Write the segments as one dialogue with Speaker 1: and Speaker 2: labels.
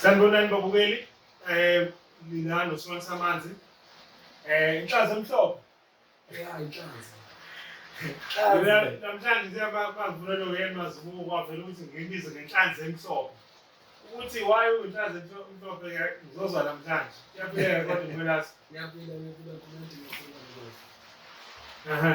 Speaker 1: Sanibonani
Speaker 2: babukeli eh mina noSimon Samanzi eh inhlaza emhlophe
Speaker 3: ya
Speaker 2: inhlaza mina namhlanje siyaba bavuna lo yena mazibuko kwavela ukuthi ngibize ngenhlanzi emhlophe ukuthi why uyinhlanzi emhlophe ngizozwa namhlanje kuyaphileka kodwa impelasi kuyaphila kuyaphila
Speaker 3: kumuntu ngifuna ngoba
Speaker 2: aha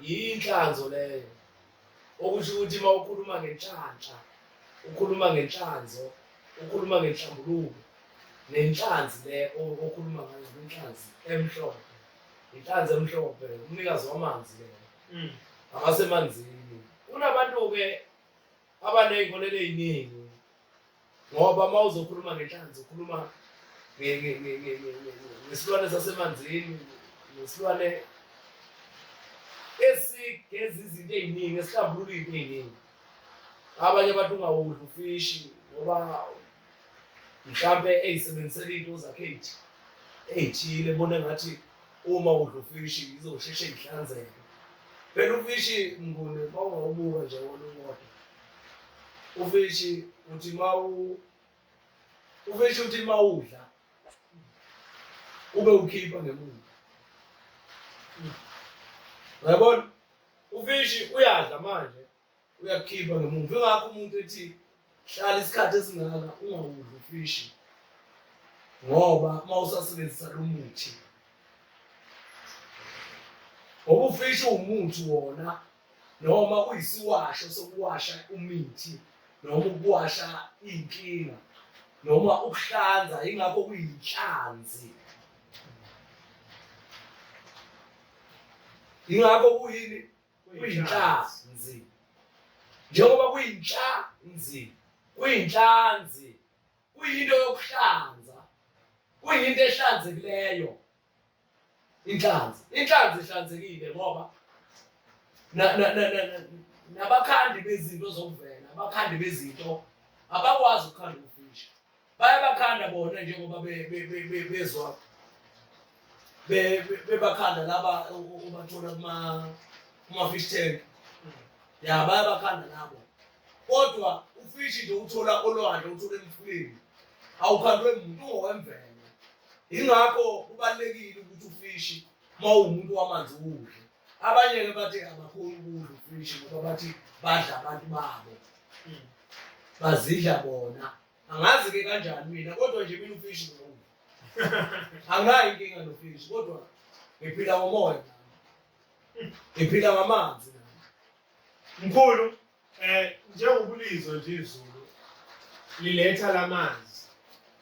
Speaker 3: yinhlanzo leyo okusho ukuthi uma ukhuluma ngenhlanhla ukhuluma ngenhlanzo ukhuluma ngenhlambuluko nenhlanzi le okhuluma ngayo inhlanzi emhlophe inhlanzi emhlophe umnikazi wamanzi le mm. abasemanzini kunabantu-ke abaney'nkolelo ey'ningi ngoba uma uzokhuluma ngenhlanzi ukhuluma ngesilwane sasemanzini nesilwane esigeza izinto ey'ningi esihlambulula iy'nto ey'ningi abanye abantu ungawudli ufishi ngoba mhlampe eyisebenzisela into zakhe eyithile ebone ngathi uma udla ufishi izosheshe ihlanzeke phela ufishi mnguni uma ungawubuka nje wona uwodwa ufishi uthi mawu ufishi uthi mawudla ube ukhipha ngemuva uyabona ufishi uyadla manje uyakhipha ngemuva ingakho umuntu ethi hlala isikhathi esingaka ungawudli ufishi ngoba uma usasebenzisa lo muthi ngoba ufishi uwumuthi wona noma kuyisiwasho sokuwasha umithi noma ukuwasha inkinga noma ukuhlanza ingakho kuyinhlanzi ingakho kuyini kuyinhlanzi njengoba kuyinhlanzi kuyinhlanzi kuyinto yokuhlanza kuyinto ehlanzekileyo inhlanzi inhlanzi ihlanzekile ngoba nabakhandi bezinto zokuvela abakhandi bezinto abakwazi ukukhanda ukufisha bayabakhanda bona njengoba bezwa bebakhanda laba ubathola kuma-fish tank ya bayabakhanda nabo kodwa ufishi nje uthola olwandle uthola emfuleni awukhandwe muntu ungowemvelo ingakho kubalulekile ukuthi ufishi uma uwumuntu wamanzi ukudle abanye-ke bathi abakhoni ukudla ufishi ngoba bathi badla abantu babo hmm. bazidla bona angazi-ke kanjani mina kodwa nje mina ufishi ngokudla anginayo inkinga nofishi kodwa ngiphila ngomoya ngiphila ngamanzi
Speaker 2: Mkhulu eh njengokulizwa nje izulu liletha lamanzi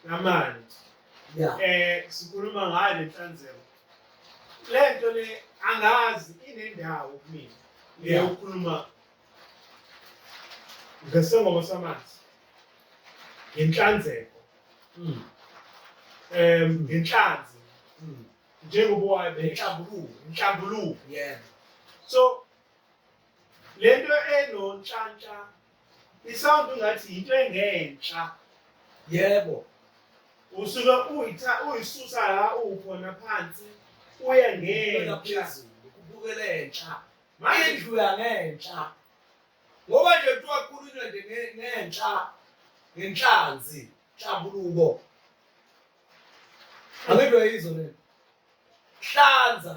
Speaker 2: lamanzi yeah. eh sikhuluma ngayo lenhlanzeko lento le angazi inendawo kumina leyokukhuluma ngesengoma samanzi ngenhlanzeko mm. um ngenhlanzi mm. njengoba wayo benhlambuluko inhlambuluko so lento enontshantsha isound ngathi into engentsha yebo usuke uyitha uyisusa la ukhona phansi uye ngentsha phezulu kubukela
Speaker 3: entsha manje indlu yangentsha ngoba nje kuthiwa kukhulunywa nje ngentsha ngenhlanzi nhlabuluko angidwe yizo le hlanza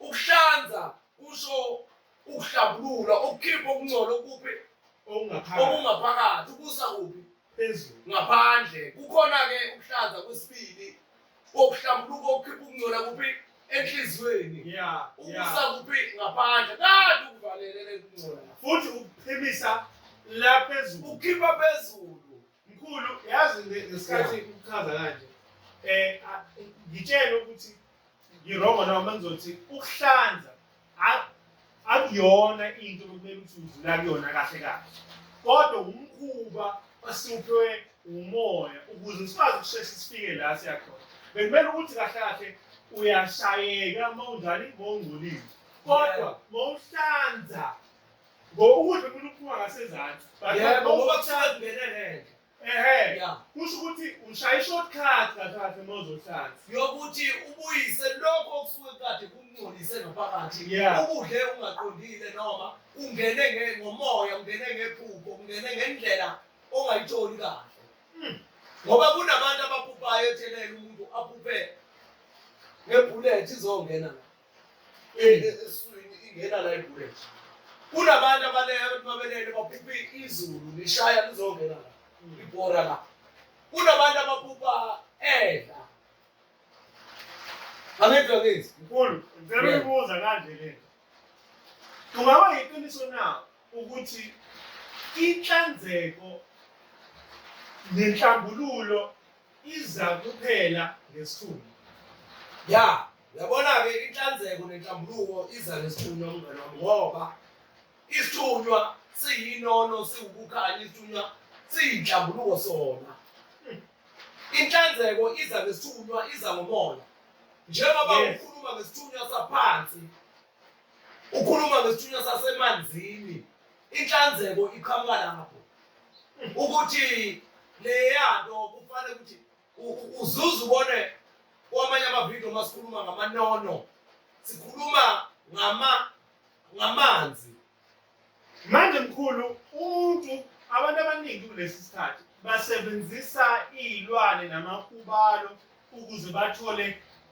Speaker 3: Ukuhlanza kusho ukuhlambulula, ukukhipha okungcola okuphi okungaphakathi ukusa kuphi phezulu
Speaker 2: ngaphandle.
Speaker 3: Kukhona-ke ukuhlanza kwesibili kokuhlambuluka okukhipha ukungcola kuphi enhliziyweni ukusa kuphi ngaphandle kanti ukuvalelele ukungcola futhi ukuphimisa
Speaker 2: la phezulu ukhipha phezulu
Speaker 3: Mkhulu
Speaker 2: yazi ngesikhathi ukuchaza kanje eh ngitshela ukuthi ngirongo noma mangizothi ukuhlanza akuyona into okumele ukuthi udlula kuyona kahle kahle kodwa umkhuba osiphiwe umoya ukuze sikwazi ukusheshe sifike la siyakhona bekumele ukuthi kahle kahle uyashayeka uma unjani uma ungcolile kodwa uma uhlanza Ngoba ukudla umuntu uphuma ngasezansi. But Yeah, ngoba ngoba kusale
Speaker 3: kungene ngenhla. ehe. Yeah.
Speaker 2: Kusho ukuthi ushaya i-short cut kahle uma uzohlanza. yokuthi
Speaker 3: ubuyise lokho okusuke kade kumngcolise ngaphakathi Yeah. ukudle ungaqondile noma ungene nge- ngomoya ungene ngephupho ungene ngendlela ongayitholi kahle Mm. ngoba kunabantu abaphuphayo ethelele umuntu aphuphe ngebhulethi izongena la eswini ingena la ibule kunabantu abaleyo abantu babelele baphupha izulu lishaya lizongena la ibhora la kunabantu abaphupha edla angedwa ngezi mkhulu ngicela
Speaker 2: uyibuza kanje le kungaba yiqiniso na ukuthi inhlanzeko nenhlambululo iza kuphela ngesithuba ya
Speaker 3: Yabona-ke inhlanzeko nenhlambuluko iza nesithunywa umngane wami ngoba isithunywa siyinono siwukukhanya isithunywa siyinhlambuluko sona inhlanzeko iza ngesithunywa iza ngomoya njengoba Yes. ukhuluma ngesithunywa saphansi ukhuluma ngesithunywa sasemanzini inhlanzeko iqhamuka lapho ukuthi leya nto kufanele ukuthi uzuze ubone kwamanye amavidiyo uma sikhuluma ngamanono sikhuluma ngama ngamanzi manje
Speaker 2: mkhulu umuntu abantu abaningi kulesi sikhathi basebenzisa iy'lwane namakhubalo ukuze bathole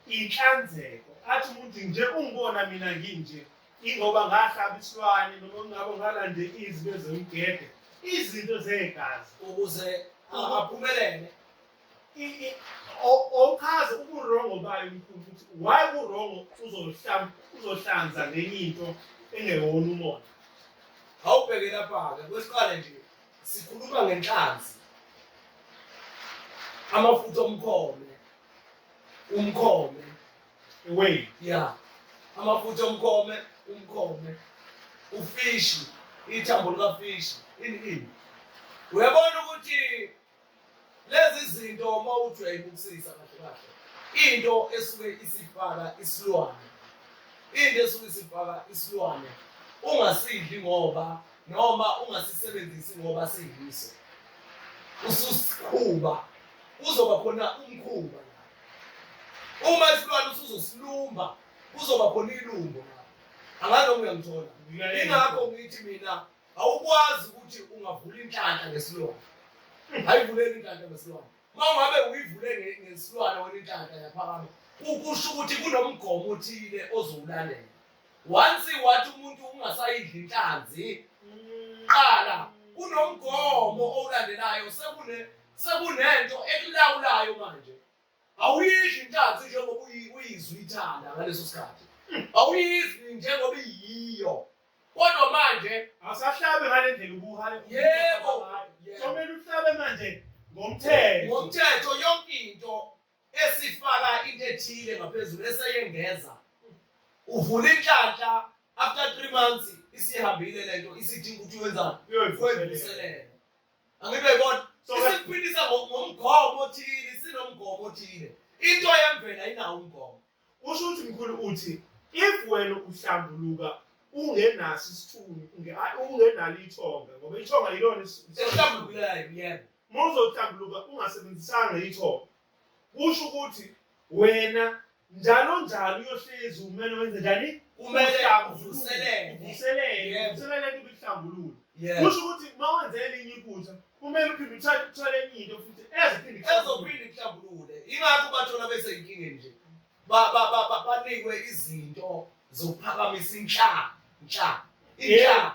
Speaker 2: inhlanzeko athi umuntu nje ungibona mina nginje Ingoba ngahlaba isilwane noma ngabo ngalande izwi ezomgede izinto zegazi ukuze
Speaker 3: aphumelele
Speaker 2: awuchaze uburongo bayo mkhulu ukuthi why uburongo uzohlanza ngenye into engewona umona awubheke
Speaker 3: lapha-ke kwesiqale nje sikhuluma ngenhlanzi amafutha omkhome umkhome iwayini ya amafutha omkhome umkhome ufishi ithambo likafishi ini ini uyabona ukuthi lezi zinto uma ujwayele ukusisa kahle kahle into esuke isifaka isilwane into esuke isifaka isilwane ungasidli ngoba noma ungasisebenzisi ngoba siyiso ususiqhuba kuzoba khona umkhuba Uma isilwane usuzosilumba kuzoba khona ilumbo. Angazi noma uyangithola. Ingakho ngithi mina awukwazi ukuthi ungavula inhlanhla ngesilwane. Ayivuleli inhlanhla ngesilwane. Uma ungabe uyivule ngesilwane wena inhlanhla yaphakama kusho ukuthi kunomgomo othile ozowulandela. Once wathi umuntu ungasayidli inhlanzi mm. qala kunomgomo owulandelayo sekune sekunento ekulawulayo manje awuyidli inhlanzi njengoba uyizwa ithanda ngaleso sikhathi awuyizwi njengoba iyiyo kodwa manje asahlabe ngale
Speaker 2: ndlela ubuhale yebo somele uhlabe manje ngomthetho
Speaker 3: ngomthetho yonke into esifaka into ethile ngaphezulu eseyengeza uvula inhlanhla after 3 months isihambile lento isidinga ukuthi wenzani wenziselele Angithi uyayibona? Isiphilisa ngomgomo othile, sinomgomo othile. Into yemvela inawo umgomo. Usho ukuthi mkhulu
Speaker 2: uthi if wena uhlambuluka ungenaso isithunzi, ungenalo ithonga ngoba ithonga yilona isihlambulukileyo
Speaker 3: yebo. Uma uzohlambuluka
Speaker 2: ungasebenzisanga ithonga kusho ukuthi wena njalo njalo uyohlezi umele wenze njani kumele
Speaker 3: uvuselele uvuselele uvuselele
Speaker 2: kuhlambulula kusho ukuthi uma wenze elinye iphutha kumele uphinde uthathe uthole enye into futhi eziphinde ezophinde
Speaker 3: kuhlambulule ingakho bathola beseyinkingeni nje banikwe izinto zokuphakamisa inhlaka inhlaka inhlaka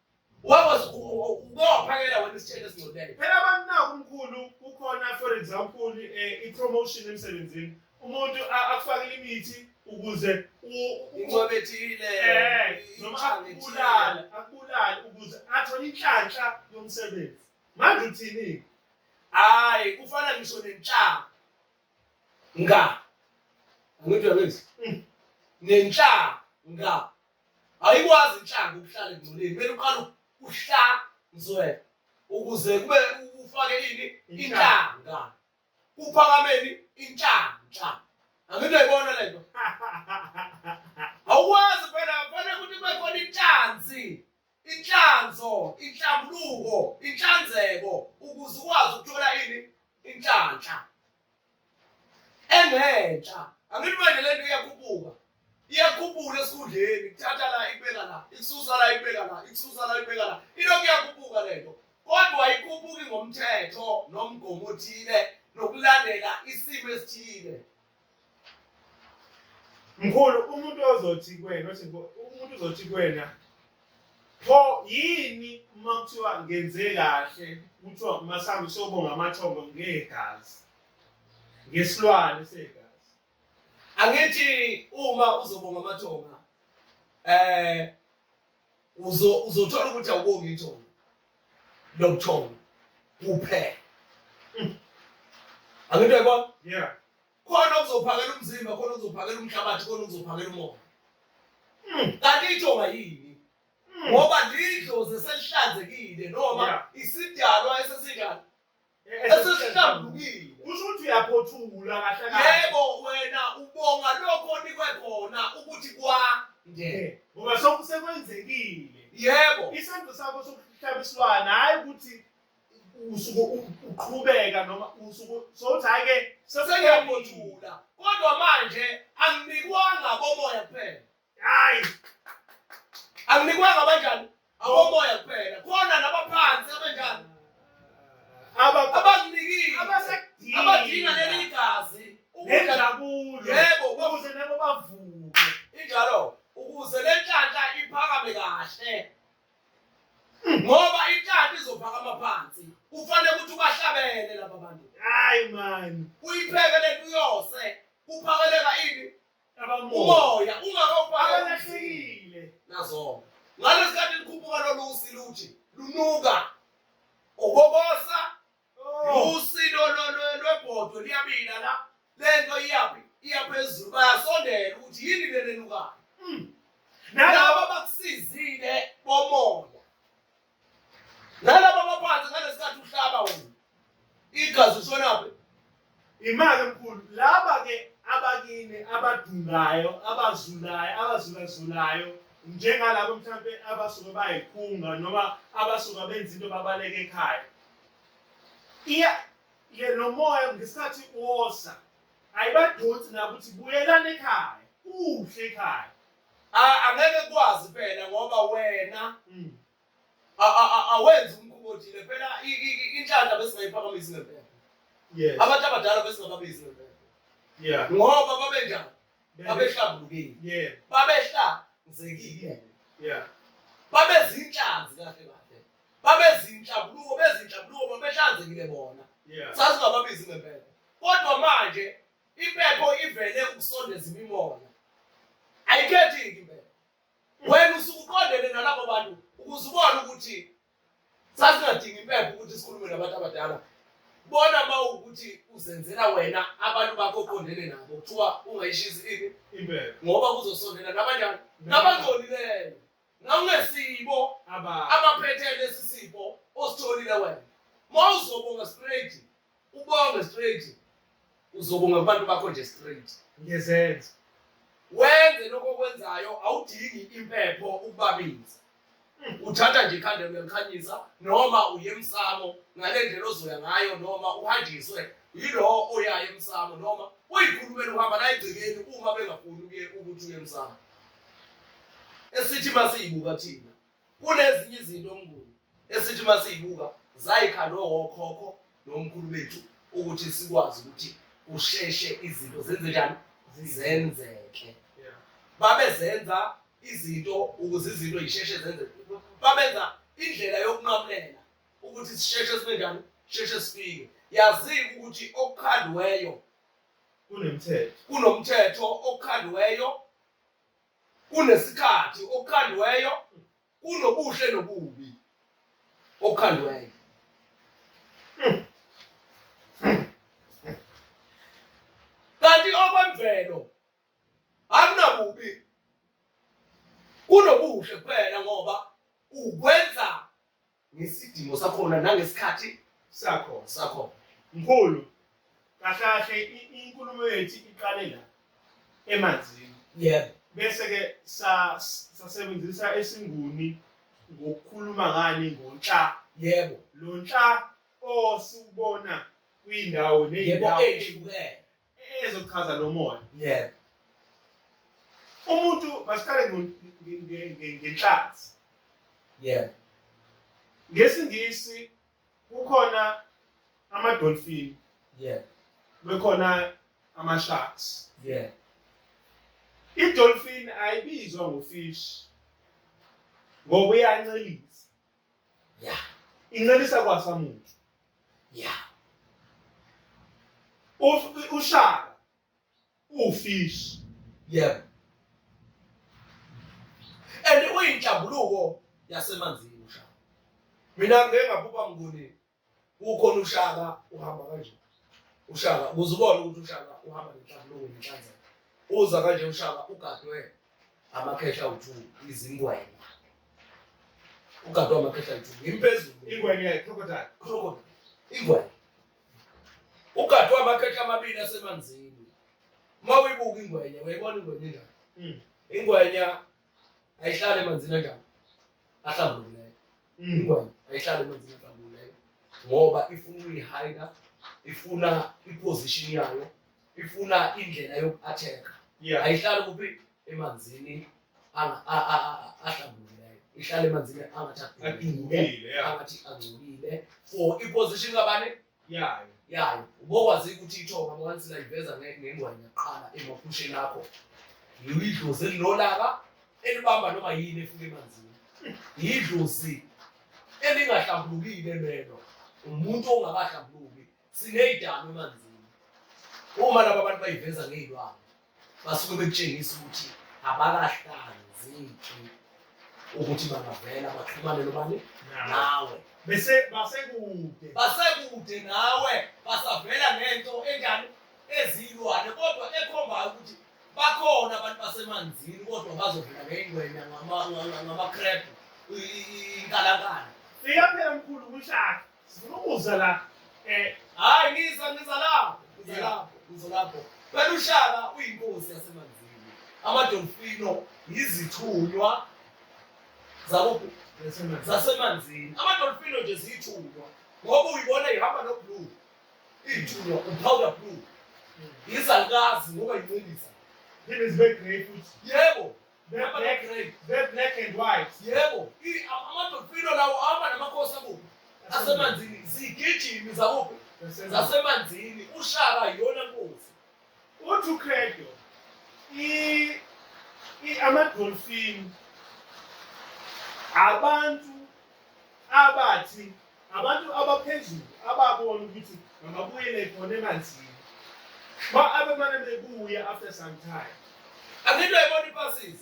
Speaker 3: Wawas ubophakela wena isitshele esingcwele. Phela abantu naku
Speaker 2: mkhulu kukhona for example eh, i-promotion emsebenzini. Umuntu a- akufakele imithi ukuze u- u- Incwebe ethile.
Speaker 3: Eh, noma inhlanga ethile. akubulale
Speaker 2: akubulale ukuze athole inhlanhla yomsebenzi manje uthini Hayi
Speaker 3: kufana ngisho nenhlanga. Nga. Angithi uyakwenza. Mm. Nenhlanga. Ayikwazi inhlanga ukuhlala engcoleni. Kumele uqale uhlanzwe ukuze kube ufake ini inhlanga. Kuphakameni inhlanhla. Angike ibona lento. Awukwazi phela kufanele ukuthi kube khona inhlanzi. Inhlanzo, inhlambuluko, inhlanzeko ukuze ukwazi ukuthola ini inhlanhla engenhla. Angithi manje le nto iyakhuphuka iyakhuphuka esikhundleni kuthatha la ikubeka la ikususa la ikubeka la ikususa la ikubeka la ilokhu iyakhuphuka le nto kodwa ayikhuphuki ngomthetho nomgomo othile nokulandela isimo esithile
Speaker 2: Mkhulu umuntu ozothi kuwena othi umuntu uzothi kuwena pho yini uma kuthiwa ngenze kahle kuthiwa masambe sobonga amathongo ngegazi ngesilwane segazi angithi
Speaker 3: uma uzobonga amathonga eh uzothola ukuthi awubongi ithongo lobuthongo kuphela hmm. angento yabona yeah
Speaker 2: khona okuzophakela
Speaker 3: umzimba khona okuzophakela umhlabathi khona okuzophakela umoya hmm. kanti ithonga yini hmm. ngoba lidlozi eselihlanzekile noma isidalwa esesinjani Esesihlambukile. Kusho ukuthi uyaphothula
Speaker 2: kahle kahle. Yebo wena
Speaker 3: ubonga lokho onikwe khona ukuthi kwa nge. Ngoba
Speaker 2: sokusekwenzekile. Yebo.
Speaker 3: Isenzo sakho
Speaker 2: sokuhlaba isilwane hayi ukuthi usuke uqhubeka noma usuke sothi hayi ke sesengiyaphothula.
Speaker 3: Kodwa manje anginikwanga komoya kuphela. Hayi. Anginikwanga abanjani? Awomoya kuphela. Khona nabaphansi abanjani? Aba abanginikile. Abasadinga. Abadinga leli gazi. Nenjabulo.
Speaker 2: Yebo, ukuze
Speaker 3: nabo
Speaker 2: bavuke. Injalo.
Speaker 3: Ukuze le nhlahla iphakame kahle. Hmm. Ngoba inhlahla izophakama phansi. Kufanele ukuthi ubahlabele laba bantu. Hayi man.
Speaker 2: Uyipheke lento
Speaker 3: uyose. Kuphakeleka ini? umoya
Speaker 2: ungakabalahlekile
Speaker 3: nazona ngalesi khathi likhuphuka lolu usi luthi lunuka okokosa oh. usi lwebhodwe liyabila la le nto iyaphi iyaphezulu bayasondela ukuthi yini lenenukayo hmm. nalaba bakusizile bomoya nalaba abaphansi ngalesikhathi uhlaba wona igazi ushonaphi imali
Speaker 2: enkulu laba ke abakini abadungayo abazulayo abazulazulayo njengalabo mhlawumbe abasuke bayikhunga noma abasuka benza into babaleke ekhaya iya ye nomoya ngesikhathi wosa ayibadonsi nakuthi buyelani ekhaya kuhle ekhaya Ah, angeke
Speaker 3: kwazi phela ngoba wena mm. awenzi umkhuba othile phela inhlanhla besingayiphakamisi ngempela yes abantu
Speaker 2: abadala
Speaker 3: besingababizi ngempela yeah
Speaker 2: ngoba
Speaker 3: babenjani babehlabulukile yeah
Speaker 2: babehlanzekile
Speaker 3: yeah
Speaker 2: babezinhlanzi
Speaker 3: kahle kahle babezinhlabuluko bezinhlabuluko babehlanzekile bona yeah sasingababizi
Speaker 2: ngempela
Speaker 3: kodwa manje Impepho ivele ukusondeza imimoya. Ayikhethi-ke impepho. Wena usuke uqondene nalabo bantu ukuze ubone ukuthi sasingadingi impepho ukuthi sikhulume nabantu abadala. Bona uma ukuthi uzenzela wena abantu bakho oqondene nabo kuthiwa ungayishisi ini impepho ngoba
Speaker 2: kuzosondela
Speaker 3: nabanjani nabangcolileyo nangesibo abaphethe lesi sipho ositholile wena. Uma uzobonga straight Ubonge straight. Uzobonga kubantu bakho nje straight. Ngezenzo.
Speaker 2: Wenze
Speaker 3: lokho okwenzayo awudingi impepho ukubabiza. Hmm, uthatha nje ikhanda uyakhanyisa noma uye emsamo ngale ndlela ozoya ngayo noma uhanjiswe yilowo oyayo emsamo noma uyikhulumela uhamba la egcekeni uma bengafuni ukuye ukuthi uye emsamo esithi masiyibuka thina Kunezinye izinto uMnguni esithi uma siyibuka zayikhalwe okhokho nomkhulu bethu ukuthi sikwazi ukuthi kusheshe izinto zenze njani zenzeke babezenza izinto ukuze izinto yisheshe zenzeke babenza indlela yokunqamulela ukuthi sisheshe sibe njani sheshe sifike yazike ukuthi okukhandiweyo kunomthetho kunomthetho okukhandiweyo kunesikhathi okukhandweyo kunobuhle nobubi okukhandweyo kanti okwemvelo akunabubi kunobuhle kuphela ngoba ukwenza ngesidingo sakhona nangesikhathi sakhona sakhona mkhulu
Speaker 2: kahle inkulumo yethu iqale la emanzini yebo
Speaker 3: bese ke
Speaker 2: sasebenzisa esinguni ngokukhuluma ngani ngonhla yebo lo
Speaker 3: nhla
Speaker 2: osubona kwindawo neyindawo
Speaker 3: ehlukene ezochaza
Speaker 2: lo moya
Speaker 3: yebo umuntu
Speaker 2: masiqale ngenhlanzi yebo
Speaker 3: ngesingisi
Speaker 2: kukhona amadolfini
Speaker 3: yebo bekhona
Speaker 2: ama-sharks
Speaker 3: yebo idolfini
Speaker 2: ayibizwa ngofish ngoba uyancelisa ya
Speaker 3: incelisa
Speaker 2: kwasa muntu ya ushaka ufish yebo
Speaker 3: and uyinhlambuluko yasemanzini ushaka mina ngeke ngabhuba nguni ukhona ushaka uhamba kanje ushaka ukuze ubone ukuthi ushaka uhamba nenhlambuluko nenhlanza uza kanje ushaka ugadwe amakhehla awuthu izingwenya ugadwe amakhehla awuthu ngimphezulu ingwenya crocodile
Speaker 2: crocodile ingwenya
Speaker 3: ugadwe amakhehla amabili asemanzini uma uyibuka ingwenya uyayibona ingwenya enjani hmm. ingwenya ayihlale emanzini anjani ahlambulukileyo mm. ingwenya ayihlale emanzini ahlambulukileyo ngoba ifuna ukuyihayida ifuna iposition yayo ifuna indlela yoku-atheka ayihlali kuphi emanzini ahlambulukileyo ihlale emanzini angathi angcolile for iposition kabani yayo yayo ubokwazi ukuthi ithonga once layiveza ngengwayi yaqala emaphusheni akho yidlozi elilolaka elibamba noma yini efuke emanzini yidlozi elingahlambulukile lelo umuntu ongakahlambuluki sineyidalo emanzini uma laba bantu bayiveza ngeyilwane basuke bekutshengisa ukuthi abakahlanzeki ukuthi bangavela baxhumane nobani nawe bese
Speaker 2: basekude
Speaker 3: basekude nawe basavela ngento enjani ezilwane kodwa ekhombayo ukuthi bakhona abantu basemanzini kodwa bazovela ngeyingwenya ngamakrebhu inkalakala fika
Speaker 2: phela mkhulu kushaka Sifuna ukuza la. Eh, hayi
Speaker 3: ngiza ngiza lapho. Ngiza lapho. Ngiza lapho. Phela ushaka uyinkosi yasemanzini. Amadolfino yizithunywa zabo zasemanzini. Amadolfino nje ziyithunywa ngoba uyibona ihamba no blue. Iyithunywa upowder blue. Yizalukazi ngoba yincindisa. Yini zibe
Speaker 2: grey futhi. Yebo.
Speaker 3: Be-black
Speaker 2: and white. Yebo,
Speaker 3: amadolfino lawo ahamba namakhosi akubo. Asemanzini, zigijimi zakuphi? Zasemanzini, ushaka yiyona nkosi. Uthi
Speaker 2: uKredo, amadolfini abantu abathi Abantu abaphezulu ababona ukuthi mababuyele khona emanzini. Ba abemane bebuya after some time. Angitwe ibona
Speaker 3: ipasses.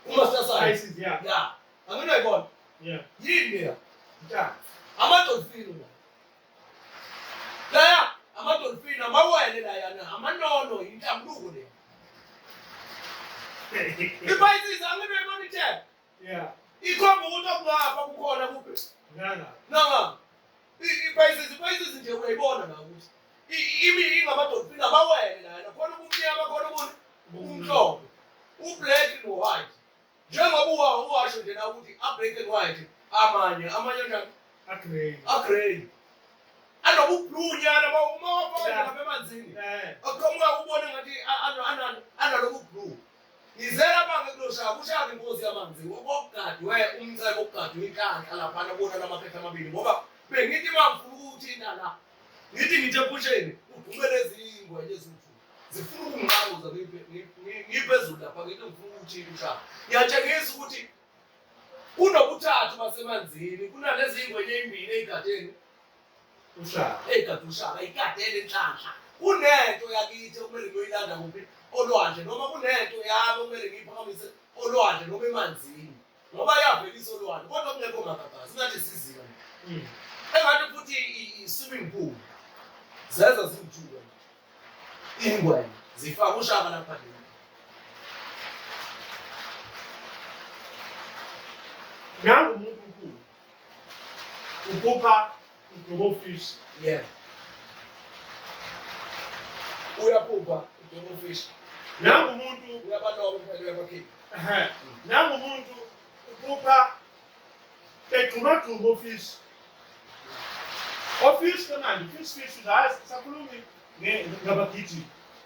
Speaker 3: Uma sasaya. Isis yeah. Yeah. Angitwe ibona. Yeah. Yini
Speaker 2: ya?
Speaker 3: Nta.
Speaker 2: Amadolfini
Speaker 3: la. Laya amadolfini amawele la yana amanono intambuko le. Ipayisis angitwe ibona ithe. Yeah.
Speaker 2: Ikhomba ukuthi
Speaker 3: okungapha kukhona kube. Nanga. Nanga. Iphayisizi iphayisizi nje uyayibona la ukuthi imi ingamadoda ingabawele lana khona ubumnyama khona ubuntu ubumhlophe ublack no white njengoba uwa uwasho nje la ukuthi a black and white amanye amanye njani
Speaker 2: a
Speaker 3: grey a grey anobublue nyana uma uma wafaka lapha emanzini akuqhamuka ubone ngathi analobublue Ngize lapha ngikuloshaya kushaya inkosi yamanzi okokugadwe umcebo okugadwe inhlanhla laphana bona lamaphepha amabili ngoba bengithi mangifuna ukuthinta la ngithi ngithe pusheni udumele ezingwe lezithu zifuna ukungiqamuza ngiphezulu lapha ngithi ngifuna ukuthinta ushaya ngiyatshengisa ukuthi kunokuthathu basemanzini kunalezi ingwenye ezimbili ey'gadeni ushaka egade ushaka ikadele inhlanhla kunento yakithi okumele ngiyoyilanda kuphi olwandle noma kunento yami okumele ngiyiphakamise olwandle noma emanzini ngoba yavelisa olwandle kodwa kungekho magagazi ngathi siziyo hmm. engathi futhi i-swimming pool zeza ziwuthuka ingwenya zifaka ushaka lapha nini
Speaker 2: nangu umuntu ukhupha udubo fish yeah
Speaker 3: uyaphupha udubo fish nangu
Speaker 2: umuntu uyabaloba phela
Speaker 3: uyabakhipha ehe nangu umuntu
Speaker 2: uphupha egxuma gxuma office office kanani fish fish uzazi sakhulumi ngabagijimi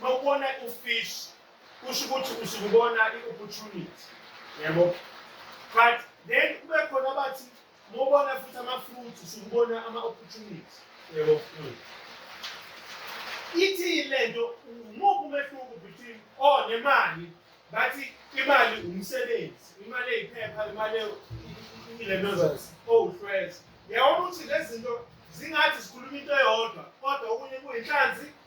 Speaker 2: uma ubona ufish kusho ukuthi usuke ubona i-opportunity yabo but then kube khona abathi uma ubona futhi ama-fruit usuke ubona ama-opportunity yabo ithi le nto umuphi umehluko between o oh, nemali bathi imali umsebenzi imali eyiphepha imali ilemezazi owuhlweza yabona ukuthi lezi zinto zingathi zikhuluma into eyodwa kodwa okunye kuyinhlanzi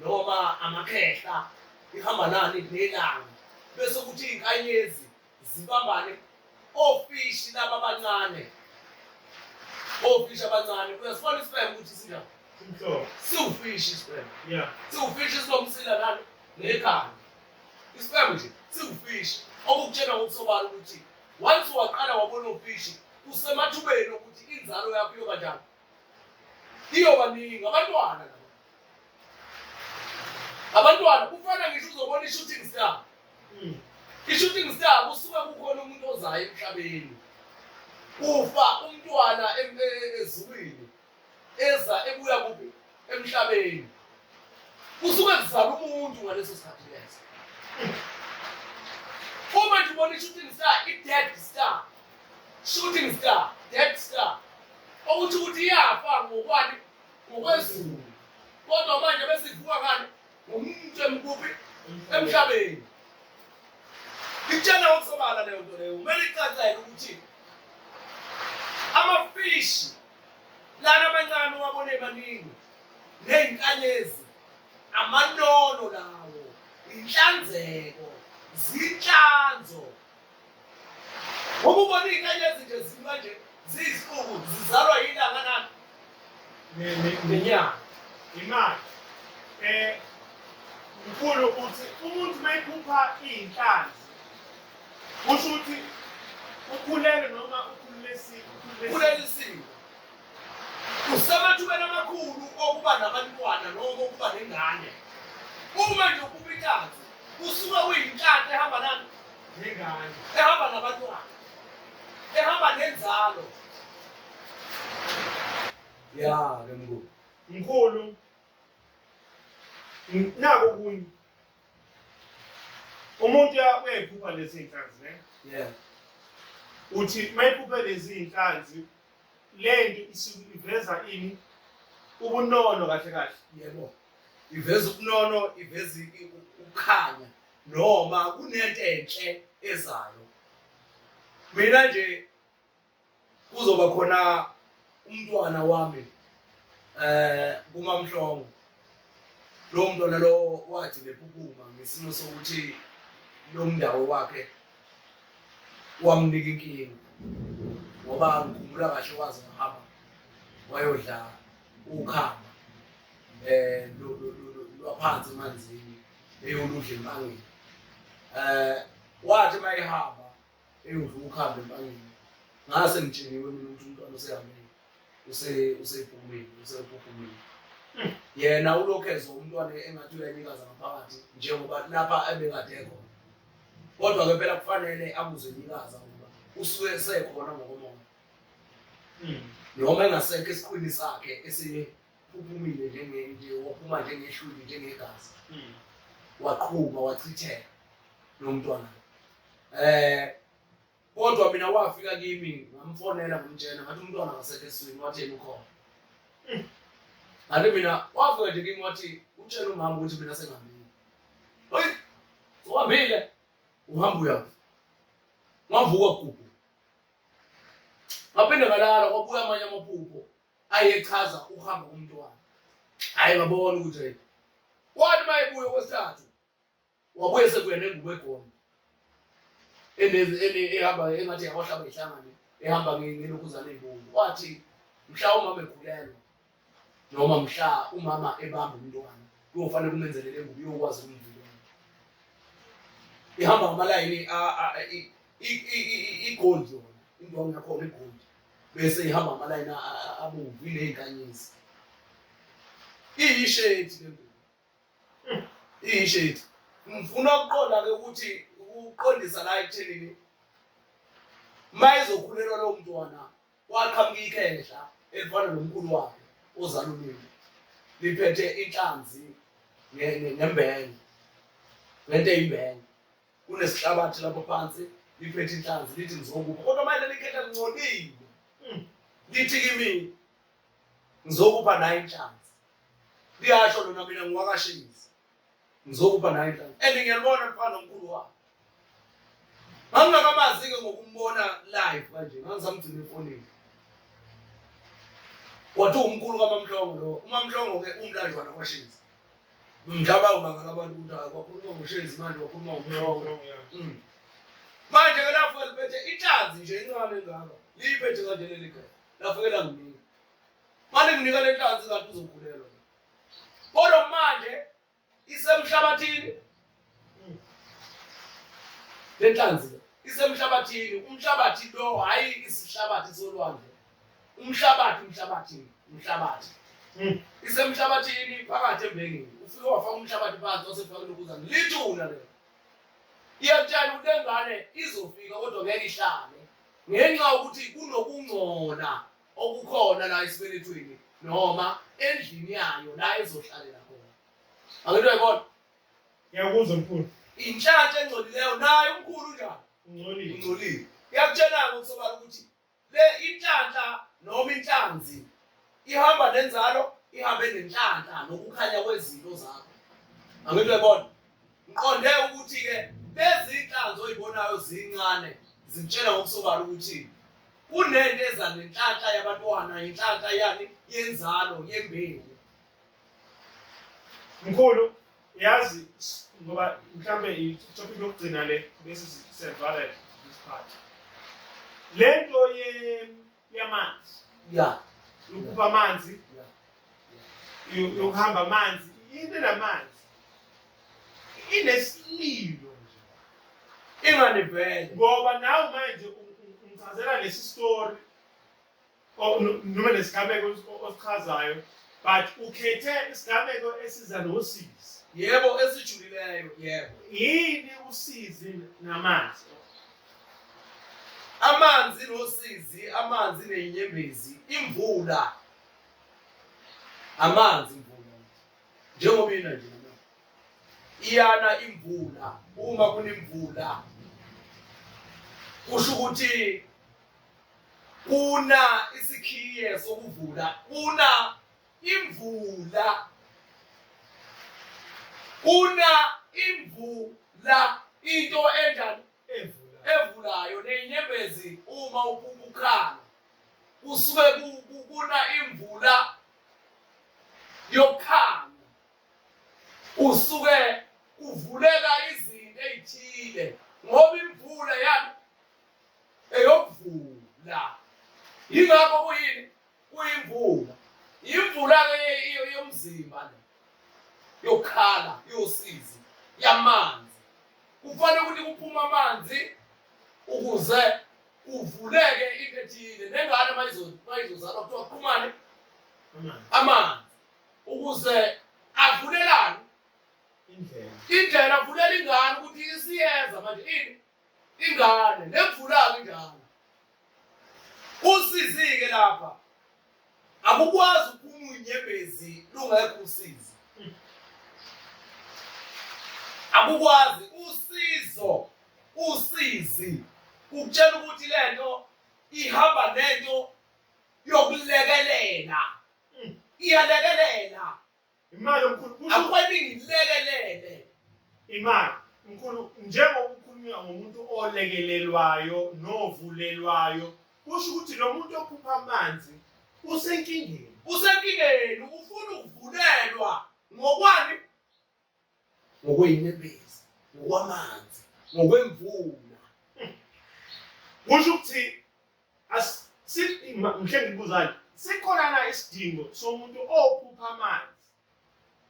Speaker 3: noma amakhehla ihamba nani nelanga bese ukuthi izinkanyezi zibambane ofishi laba abancane ofishi abancane uyasibona isibheke ukuthi sinjani umhlobo siwufishi isibheke yeah siwufishi sinomsila nani nekhanda isibheke nje siwufishi okukutshela ngokusobala ukuthi once waqala wabona ufishi usemathubeni okuthi inzalo yakho iyoba njani iyobaningi abantwana abantwana kufana ngisho uzobona i-shooting star hmm. i-shooting star kusuke kukhona umuntu ozayo emhlabeni ufa umntwana e-, e-, ezulwini eza ebuya kuphi emhlabeni kusuke kuzala umuntu ngaleso sikhathi leso uma nje ubona i-shooting star i-dead star shooting star dead star okuthi ukuthi iyafa ngokwani ngokwezulu kodwa manje besivuka kani ngomuntu emkuphi emhlabeni ngitshela ngokusobala leyo nto leyo kumele icacelwe ukuthi amafishi lana amancane uwabona emaningi neyinkanyezi amanono lawo inhlanzeko zinhlanzo ububona iyinkanyezi nje ziba nje ziyisifuku zizalwa yilanga nani ngenyanga imali
Speaker 2: um mkhulu uthi umuntu uma ephupha iyinhlanzi kusho ukuthi ukhulelwe noma ukhulelisiwe
Speaker 3: usemathubeni amakhulu okuba nabantwana noma okuba nengane uma nje ukuba intanzi usuke uyintanzi ehamba nani nengane
Speaker 2: ehamba nabantwana
Speaker 3: ehamba nenzalo ya ke mkhulu mkhulu
Speaker 2: naku kunye umuntu uyayiphupha lezi iy'nhlanzi ne Yeah. uthi uma ephuphe lezi iy'nhlanzi le nto isuke iveza ini ubunono
Speaker 3: kahle
Speaker 2: kahle
Speaker 3: Yebo.
Speaker 2: Iveza
Speaker 3: ubunono, iveza i- i-
Speaker 2: ukukhanya
Speaker 3: noma kunento enhle ezayo. Mina nje kuzoba khona umntwana wami eh kumamhlongo lo mntwana lo wathi bephupuma ngesimo sokuthi lo mndawo wakhe wamnika inkinga ngoba ngikhumbula kahle waze wahamba wayodla ukhamba eh lwaphansi emanzini eyoludla empangeni eh wathi mayihamba eyi uvuka ukuhambe empangeni ngase ngitsheniwe mina ukuthi umntwana usehambile useyibhumile useyiphuphumile yena ulokhu ezwa umntwana engathi uyanikaza ngaphakathi njengoba lapha ebekade ekhona kodwa ke phela kufanele akuzwe nikaza ngoba usuke esekhona ngokomoya noma engasekho esiqwini sakhe uphumile njengento waphuma njengeshuli njengegazi hmm. waqhuma wachitheka lo mntwana um kodwa mina wafika kimi ngamfonela ngomtshena ngathi umntwana ngasekho eswini wathi yena ukhona hmm. ngathi mina wafika nje kimi wathi utshela umama ukuthi mina sengambile oyi uhambile uhamba uyafa ngavuka kubo ngaphinde ngalala kwabuya amanye amaphupho ayechaza ukuhamba komntwana hayi babona ukuthi hey kwathi uma ebuya okwesithathu wabuye sekuye nengubo egona ehamba engathi yawahlaba ihlangane ehamba ngelokhuzane ey'bomvu wathi mhla umama ekhulelwa noma mhla umama ebamba umntwana kuyofanele kumenzelele ngubo uyokwazi ukumvikela ihamba ngamalayini igoldi yona indwangu yakhona igoldi bese ihamba amalayini abomvu inezinkanyezi iyishedi le ngubo iyishedi ngifuna ukuqonda ke ukuthi ukuqondisa la ekuthenini uma izokhulelwa lowo mntwana waqhamuka ikhehla elifana nomkhulu wakhe ozalulile liphethe inhlanzi ngembenge ngento eyimbenge kunesihlabathi lapho phansi liphethe inhlanzi lithi ngizokupha kodwa manje lelikhetha lingcolile hmm. lithi kimi ngizokupha nayo inhlanzi liyasho lona mina ngiwakashingisi ngizokupha nayo inhlanzi and ngiyalibona mfana omkhulu wakho ngangingakamazi-ke ngokumbona live kanje ngangisamgcina efonini wathi umkhulu kamamhlongo lo umamhlongo-ke umlanjwana kwashinzi ngicabanga ubangala abantu ukuthi hayi kwakhuluma ngoshezi manje kwakhuluma ngomnqoko mm. manje ke lapho liphethe ihlazi nje incane engaka liyiphethe kanje leli gaya lafike langinika mane nginika le hlazi ngathi uzokhulelwa kodwa manje isemhlabathini lenhlanzi isemhlabathini umhlabathi lo hhayi isihlabathi solwandle umhlabathi umhlabathi umhlabathi hmm. isemhlabathini phakathi embengeni ufike wafaka umhlabathi phansi wasefaka lokuzana lithuna lelo iyakutshela ukuthi engane izofika kodwa ngeke ihlale ngenxa yokuthi kunokungcola okukhona la esibelethweni noma endlini yayo la ezohlalela khona angithi uyayibona Ngiyakuzwa
Speaker 2: mkhulu. Inhlanhla engcolileyo
Speaker 3: naye umkhulu njalo. Ungcolile. Ungcolile. Ngiyakutshela-ke usobala ukuthi le inhlanhla noma inhlanzi ihamba nenzalo ihambe nenhlanhla nokukhanya kwezinto zakho. Angithi uyabona? Ngiqonde ukuthi-ke lezi inhlanzi oyibonayo zincane zitshela ngokusobala ukuthi kunento eza nenhlanhla yabantwana, inhlanhla yani yenzalo yembewu.
Speaker 2: mkhulu yazi ngoba mhlambe itopic lokugcina le bese siyavala this part le nto yamanzi ya
Speaker 3: yokuba amanzi yokuhamba amanzi
Speaker 2: into namanzi inesililo nje ingane vele
Speaker 3: ngoba nawe
Speaker 2: manje ungicazela lesi story o- no- noma nesigameko os- o- osichazayo but ukhethe isigameko esiza nosizi Yebo
Speaker 3: esijulileyo, yebo. yini
Speaker 2: usizi namanzi
Speaker 3: Amanzi nosizi, amanzi nenyembezi, imvula. Amanzi imvula. Njengoba ina nje. noma. Iyana imvula uma kunemvula. Kusho ukuthi Kuna isikhiye sokuvula. Kuna imvula. Kuna imvula into enjani
Speaker 2: evulayo
Speaker 3: nenyembezi uma ukukhala kusuke kuna imvula yokhanga usuke kuvuleka izinto ezithile ngoba imvula yani eyokuvula yingakho kuyini kuyimvula imvula ke yomzimba le yokhala yosizi yamanzi kufanele ukuthi kuphuma amanzi ukuze kuvuleke into ethile nengane mayizozalwa kuthiwa qhumane amanzi ukuze avulelane indlela indlela avulela ingane ukuthi isiyeza manje ini ingane nemvulaka injalo usizike lapha akukwazi ukuphuma unyembezi lungekho usizi akukwazi usizo usizi ukutshela ukuthi lento ihamba nento yokulekelela iyalekelela Imali omkhulu
Speaker 2: kusho Akweli ngilekelele.
Speaker 3: imali.
Speaker 2: Mkhulu njengoba ukhuluma ngomuntu olekelelwayo novulelwayo kusho ukuthi lo muntu ophupha amanzi usenkingeni. Usenkingeni
Speaker 3: ufuna ukuvulelwa ngokwani? ngokwenyembezi ngokwamanzi ngokwemvula
Speaker 2: kusho ukuthi asimhle ngikuzani sikhona na isidingo somuntu ophupha amanzi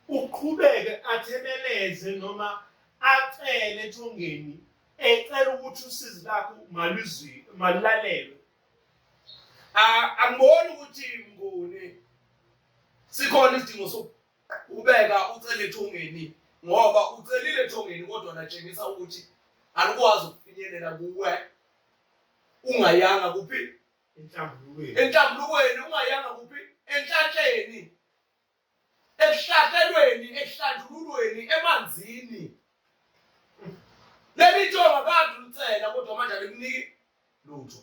Speaker 2: uqhubeke athemeleze noma acele ethongeni ecela ukuthi usizi lakho maluzwi malulalelwe
Speaker 3: angiboni ukuthi ngone sikhona isidingo Ubeka ucele ethongeni ngoba ucelile ethongeni kodwa natshengisa ukuthi alikwazi ukufinyelela kuwe ungayanga kuphi enhlambulukweni enhlambulukweni ungayanga kuphi enhlatsheni ekuhlatshelweni ekuhlanjululweni emanzini leli thonga kade ulicela kodwa manje alikuniki lutho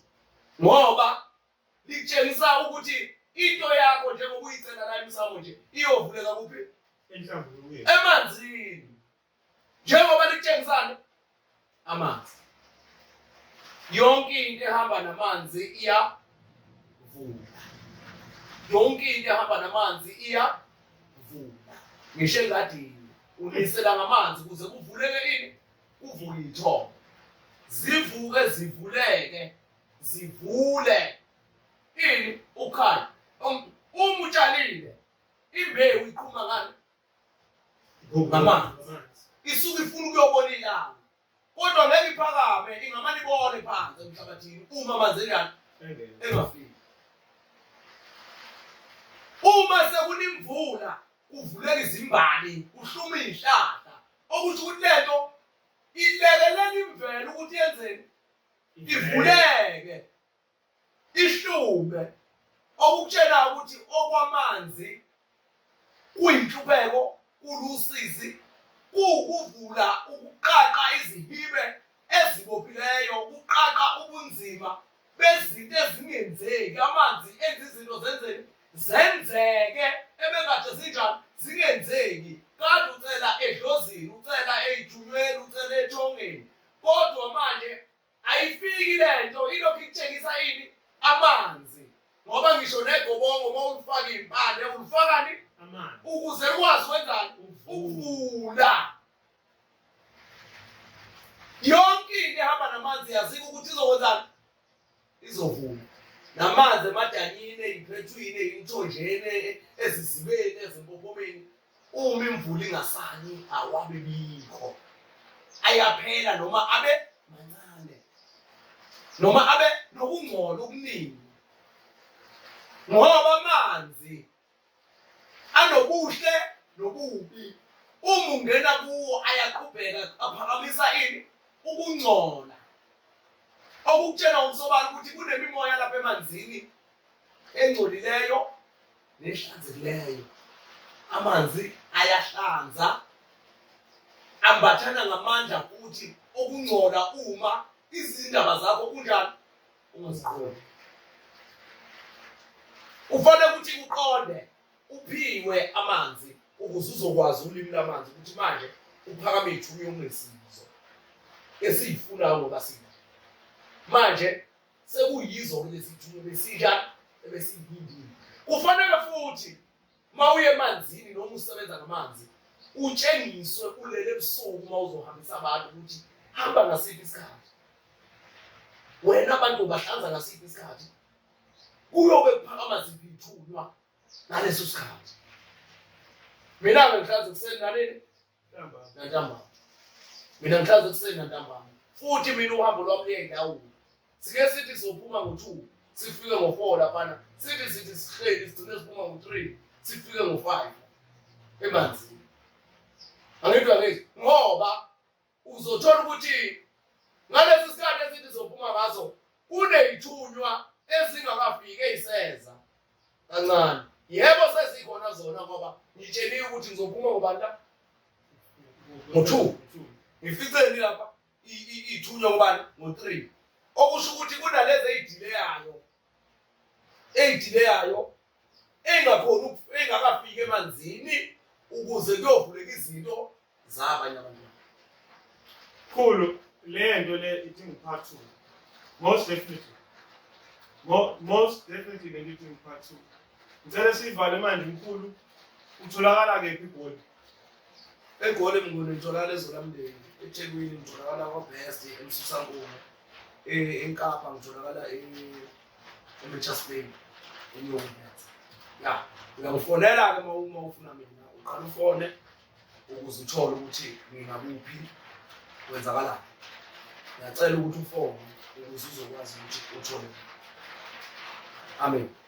Speaker 3: ngoba likutshengisa ukuthi into yakho njengoba uyicela la emsamo nje iyovuleka kuphi
Speaker 2: emanzini
Speaker 3: njengoba likutshengisani amanzi yonke into ehamba namanzi iyavula yonke into ehamba namanzi iyavula ngisho engadini unisela ngamanzi ukuze kuvuleke ini kuvuke ithongo zivuke zivuleke zivule ini ukhaya uma utshalile imbewu iqhuma ngani ngamanzi isuke ifuna ukuyobona ilanga kodwa ngeke iphakame ingamane ibone phansi emhlabathini uma amanzi enjani engafiki uma sekunemvula kuvuleka izimbali kuhluma izihlahla okusho ukuthi lento ilekelela imvelo ukuthi yenzeni ivuleke ihlume okukutshela ukuthi okwamanzi kuyinhlupeko kulusizi kuwukuvula ukuqaqa izihibe ezibophileyo kuqaqa ubunzima bezinto ezingenzeki amanzi enza izinto zenzeni zenzeke ebekade zinjani zingenzeki kade ucela edlozini ucela eyithunyweni ucela ethongeni Kodwa manje ayifiki le nto ilokhu ikutshengisa ini amanzi ngoba ngisho negobongo uma ulifaka iy'mpande ulifakani ukuze lukwazi wenzani ukuvula yonke into ehamba namanzi yazika ukuthi izokwenzani izovuma namanzi emadanyini eyiphethwini eyimthonjeni ezizibeni ezimpophomeni uma imvula ingasani awabe bikho ayaphela noma abe mancane noma abe nokungcola okuningi ngoba amanzi anobuhle nobubi uma ungena kuwo ayaqhubheka aphakamisa ini ukungcola okukutshela umsobala ukuthi kunemimoya lapha emanzini engcolileyo nehlanzekileyo amanzi ayahlanza ambathana ngamandla futhi okungcola uma izindaba zakho kunjani ungaziqondi ufanele ukuthi uqonde uphiwe amanzi ukuze uzokwazi ulimi lamanzi ukuthi manje uphakame ithuba yokunesizo esiyifunayo ngoba sina manje sekuyizo lezi thuba besija ebesiyindile kufanele futhi Uma uye emanzini noma usebenza ngamanzi utshengiswe ulele ebusuku uma uzohambisa abantu ukuthi hamba ngasiphi isikhathi wena abantu ubahlanza ngasiphi isikhathi kuyobe kuphakama ziphi ithunywa ngaleso sikhathi mina-ke ngihlanza ekuseni naleni nantambama mina ngihlaza ekuseni nantambama futhi mina uhambo lwami luye ndawula sike sithi sizophuma ngo-two sifike ngo-four laphana sithi sithi sihleli sigcine siphuma ngo-three sifike ngo-five emanzini angithi angithi ngoba uzothola ukuthi ngalesi sikhathi esithi sizophuma ngaso Kuney'thunywa ezingakafiki ey'seza kancane. Yebo sezikhona zona ngoba ngitsheliwe ukuthi ngizophuma ngobani la? Ngo-two. Ngificeni lapha iy'thunywa ngobani? Ngo-three. Okusho ukuthi kunalezi ey'dileyayo ey'dileyayo engakhona engakafiki emanzini ukuze kuyovuleka izinto zabanye abantu
Speaker 2: khulu le nto le ithi ngiphathu most definitely most definitely le nto ithi ngiphathu ngicela siyivale manje mkhulu utholakala kephi igoli
Speaker 3: egoli mnguni ngitholakala ezolamndeni ethekwini ngitholakala kwabest emsusankumo enkapa ngitholakala e-mitchers bay enyongat ya uyangifonela-ke ma uma ufuna mina uqala ufone ukuze uthole ukuthi ngingakuphi kwenzakalani ngiyacela ukuthi ufone ukuze uzokwazi ukuthi uthole amen